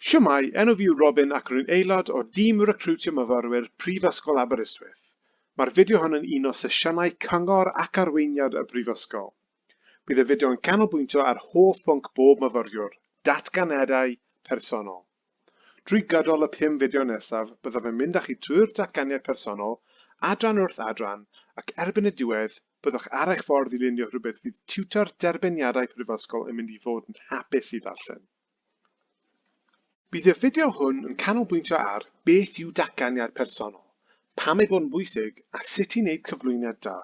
Shwmae, enw fi yw Robin ac rwy'n aelod o dîm recriwtio myfyrwyr Prifysgol Aberystwyth. Mae'r fideo hon yn un o sesiynau cyngor ac arweiniad y Brifysgol. Bydd y fideo yn canolbwyntio ar hoff bwnc bob myfyriwr, datganiadau personol. Drwy gydol y pum fideo nesaf, byddaf yn mynd â chi trwy'r datganiad personol, adran wrth adran, ac erbyn y diwedd, byddwch ar eich ffordd i lunio rhywbeth fydd tiwtor Derbyniadau Prifysgol yn mynd i fod yn hapus i ddarllen. Bydd y fideo hwn yn canolbwyntio ar beth yw datganiad personol, pam ei bod yn bwysig a sut i wneud cyflwyniad da.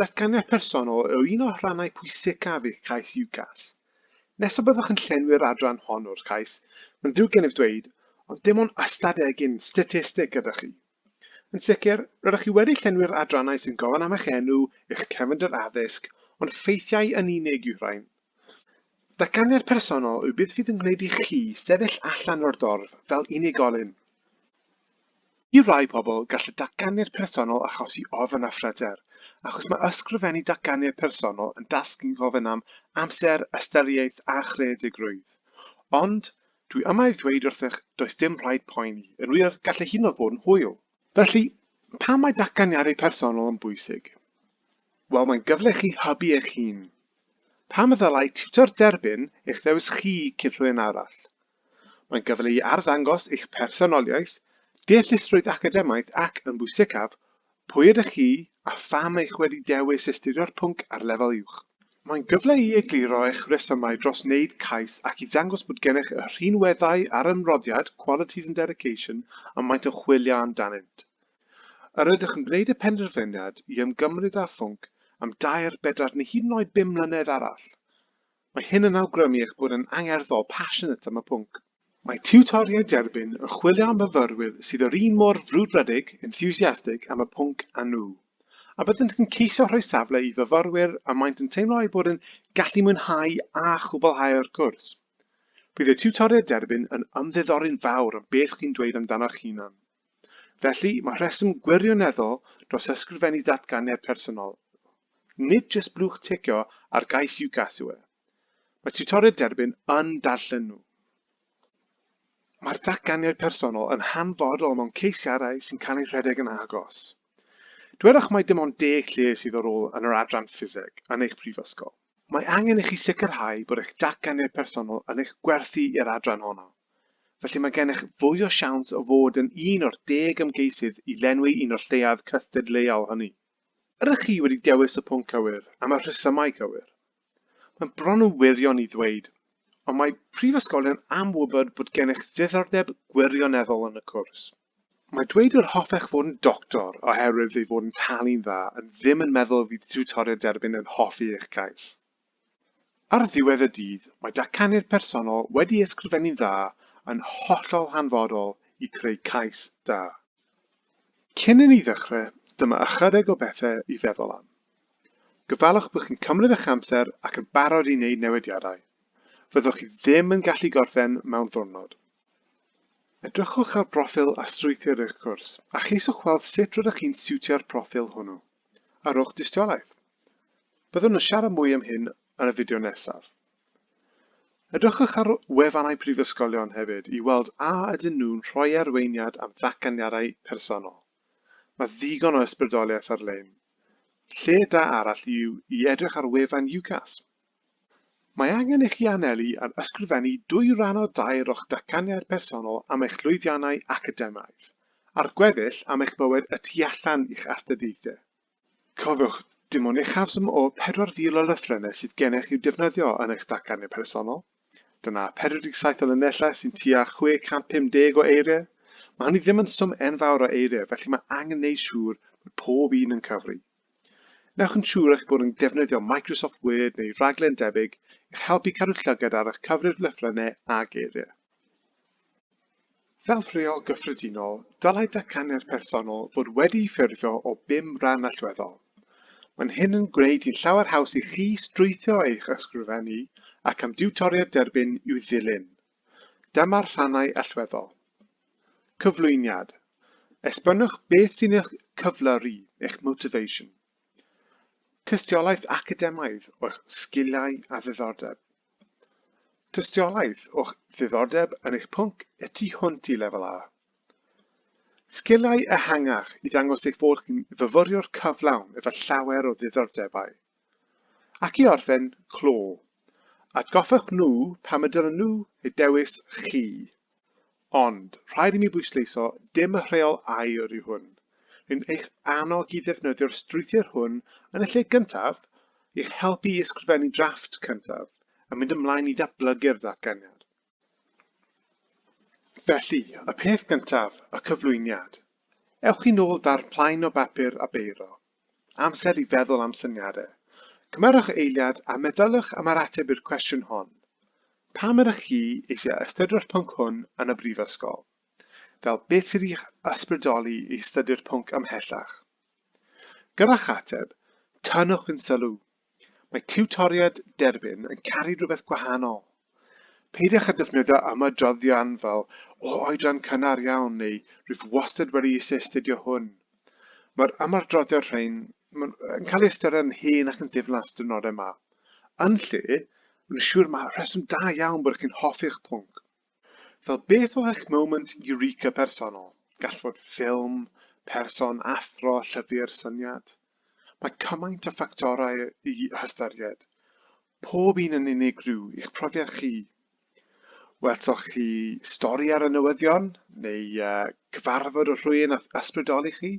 Datganiad personol yw un o'r rhannau pwysicaf eich cais UCAS. Nes y byddwch yn llenwi'r adran hon o'r cais, mae'n ddrwg gennyf ddweud, ond dim ond ystad egin statistig gyda chi. Yn sicr, rydych chi wedi llenwi'r adrannau sy'n gofyn am eich enw, eich cefndir addysg, ond ffeithiau yn unig yw rhain. Datganiad personol yw beth fydd yn gwneud i chi sefyll allan o'r dorf fel unigolyn. I rai pobl, gall y datganiad personol achosi ofn a phryder, achos mae ysgrifennu datganiad personol yn dasg sy'n gofyn am amser, ystyriaeth a chreadigrwydd. Ond, Dwi yma i ddweud wrthych, does dim rhaid poeni. Yn wir, gall y hinoedd fod yn hwyl. Felly, pam mae datganiadau personol yn bwysig? Wel, mae'n gyfle i chi hybu eich hun. Pam y ddylai tiwtor derbyn eich ddewis chi cyn rhywun arall? Mae'n gyfle i arddangos eich personoliaeth, deallusrwydd academaidd ac, yn bwysicaf, Pwy ydych chi a pham eich wedi dewis astudio'r pwnc ar lefel uwch? Mae'n gyfle i egluro eich rhesymau dros wneud cais ac i ddangos bod gennych y rhinweddau a'r ymroddiad, qualities and dedication, y maent yn chwilio amdanynt. Yr ydych yn gwneud y penderfyniad i ymgymryd â phwnc am dair, bedair neu hyd yn oed bum mlynedd arall? Mae hyn yn awgrymu eich bod yn angerdd o, passionate, am y pwnc. Mae tiwtoriaid derbyn yn chwilio am fyfyrwyr sydd yr un mor frwdfrydig, enthusiastic, am y pwnc â nhw, a byddent yn ceisio rhoi safle i fyfyrwyr y maent yn teimlo eu bod yn gallu mwynhau a chwblhau'r cwrs. Bydd y tiwtoriaid derbyn yn ymddiddori'n fawr am beth chi'n dweud amdano'ch hunan. Felly, mae rheswm gwirioneddol dros ysgrifennu datganiad personol. Nid jyst blwch ticio ar gais UCAS yw e. Mae tiwtoriaid derbyn yn darllen nhw. Mae'r datganiad personol yn hanfodol mewn ceisiadau sy'n cael eu rhedeg yn agos. Dwedwch mai dim ond deg lle sydd ar ôl yn yr adran ffiseg yn eich prifysgol. Mae angen i chi sicrhau bod eich datganiad personol yn eich gwerthu i'r adran honno. Felly mae gennych fwy o siawns o fod yn un o'r deg ymgeisydd i lenwi un o'r lleiaoedd cystadleuol hynny. Ydych chi wedi dewis y pwnc cywir am y rhesymau cywir? Mae'n bron yn wirion i ddweud, ond mae prifysgolion am wybod bod gennych ddiddordeb gwirioneddol yn y cwrs. Mae dweud yr hoffech fod yn doctor oherwydd ei fod yn talu'n dda yn ddim yn meddwl y fydd tiwtoriaid derbyn yn hoffi eich cais. Ar ddiwedd y dydd, mae datganiad personol wedi ysgrifennu'n dda yn hollol hanfodol i creu cais da. Cyn i ni ddechrau, dyma ychydig o bethau i feddwl am. Gofalwch bod chi'n cymryd eich amser ac yn barod i wneud newidiadau. Fyddwch chi ddim yn gallu gorffen mewn ddiwrnod. Edrychwch ar broffil a strwythur eich cwrs a cheisiwch weld sut rydych chi'n siwtio'r proffil hwnnw. A rhowch dystiolaeth. Byddwn yn siarad mwy am hyn yn y fideo nesaf. Edrychwch ar wefannau prifysgolion hefyd i weld a ydyn nhw'n rhoi arweiniad am ddatganiadau personol. Mae ddigon o ysbrydoliaeth ar-lein. Lle da arall yw i edrych ar wefan UCAS. Mae angen i chi anelu ar ysgrifennu dwy ran o dair o'ch datganiad personol am eich llwyddiannau academaidd, a'r gweddill am eich bywyd y tu allan i'ch astudiaethau. Cofiwch, dim ond uchafswm o 4,000 o lythrennau sydd gennych i'w defnyddio yn eich datganiad personol. Dyna 47 o linellau sy'n tua 650 o eiriau. Mae hynny ddim yn swm enfawr o eiriau, felly mae angen neud siŵr bod pob un yn cyfri. Wnewch yn siŵr eich bod yn defnyddio Microsoft Word neu raglen debyg i'ch helpu cadw llygad ar eich cyfrif lythrennau a geiriau. Fel rheol gyffredinol, dylai datganiad personol fod wedi'i ffurfio o bum rhan allweddol. Mae'n hyn yn gwneud hi'n llawer haws i chi strwythuro eich ysgrifennu ac am diwtoriad derbyn i'w ddilyn. Dyma'r rhannau allweddol. Cyflwyniad. Esbonwch beth sy'n eich cyflyru, eich motivation. Tystiolaeth academaidd o'ch sgiliau a ddiddordeb. Tystiolaeth o'ch ddiddordeb yn eich pwnc y tu hwnt i lefel A. Sgiliau ehangach i ddangos eich bod chi'n fyfyriwr cyflawn efo llawer o ddiddordebau. Ac i orffen, clo. Atgoffwch nhw pam y dylen nhw eu dewis chi. Ond, rhaid i mi bwysleisio, dim y rheol aur yw hwn. Rwy'n eich annog i ddefnyddio'r strwythur hwn yn y lle gyntaf i'ch helpu i ysgrifennu drafft cyntaf a mynd ymlaen i ddatblygu'r ddatganiad. Felly, y peth gyntaf, y cyflwyniad. Ewch i nôl da'r plaen o bapur a beiro. Amser i feddwl am syniadau. Cymerwch eiliad a meddyliwch am yr ateb i'r cwestiwn hon. Pam ydych chi eisiau astudio'r pwnc hwn yn y brifysgol? Fel beth sydd i'ch ysbrydoli i astudio'r pwnc ymhellach? Gyrra'ch ateb, tynnwch yn sylw, Mae tiwtoriaid derbyn yn caru rhywbeth gwahanol. Peidiwch â defnyddio ymadroddion fel o oedran cynnar iawn neu rwyf wastad wedi eisiau astudio hwn. Mae'r ymadroddion rhain yn cael eu ystyried yn hen ac yn ddiflas dynodau ma. Yn lle, rwy'n siŵr mae rheswm da iawn bod chi'n hoffi'ch pwnc. Fel beth oedd eich moment eureka personol? Gall fod ffilm, person, athro, llyfr, syniad. Mae cymaint o ffactorau i hystyried. Pob un yn unigryw i'ch profiad chi. Welsoch chi stori ar y newyddion neu uh, cyfarfod o rhywun a ysbrydoli chi?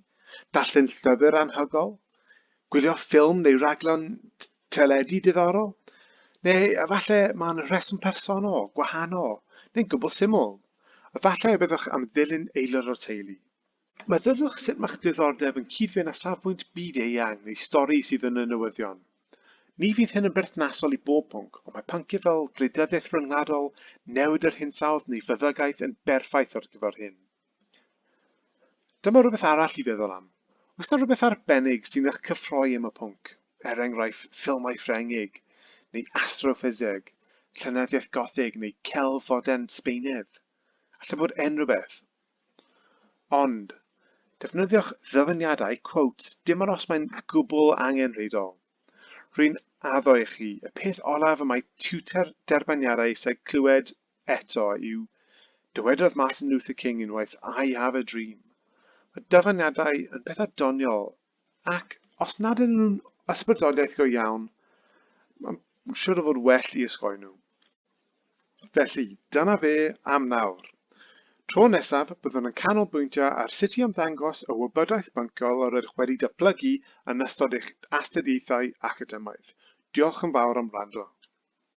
Darllen llyfr anhygol? Gwylio ffilm neu raglen Teledu diddorol? Neu efallai mae'n rheswm personol, gwahanol, neu'n gwbl syml? Efallai y byddwch am ddilyn aelod o'r teulu. Meddyliwch sut mae'ch diddordeb yn cyd-fynd â safbwynt byd-eang neu stori sydd yn y newyddion. Ni fydd hyn yn berthnasol i bob pwnc, ond mae pynciau fel gwleidyddiaeth ryngwladol, newid yr hinsawdd neu feddygaeth yn berffaith ar gyfer hyn. Dyma rhywbeth arall i feddwl am. Oes na rhywbeth arbennig sy'n eich cyffroi am y pwnc, er enghraifft ffilmau Ffrengig, neu astroffiseg, llenyddiaeth gothig neu celf fodern Sbeinydd? Alla bod unrhyw beth. Ond, defnyddiwch ddyfyniadau, quotes, dim ond os mae'n gwbl angenrhydol. Rwy'n addo i chi, y peth olaf y mae tiwter derbyniadau eisiau clywed Eto, yw, dywedodd Martin Luther King unwaith, I have a dream. Mae dyfaniadau yn pethau doniol, ac os nad yn nhw'n ysbrydoliaeth go iawn, mae'n siwr o fod well i ysgoi nhw. Felly, dyna fe am nawr. Tro nesaf, byddwn yn canolbwyntio ar sut i ymddangos y wybodaeth byncol yr ydych wedi datblygu yn ystod eich astudiaethau academaidd. Diolch yn fawr am wrando.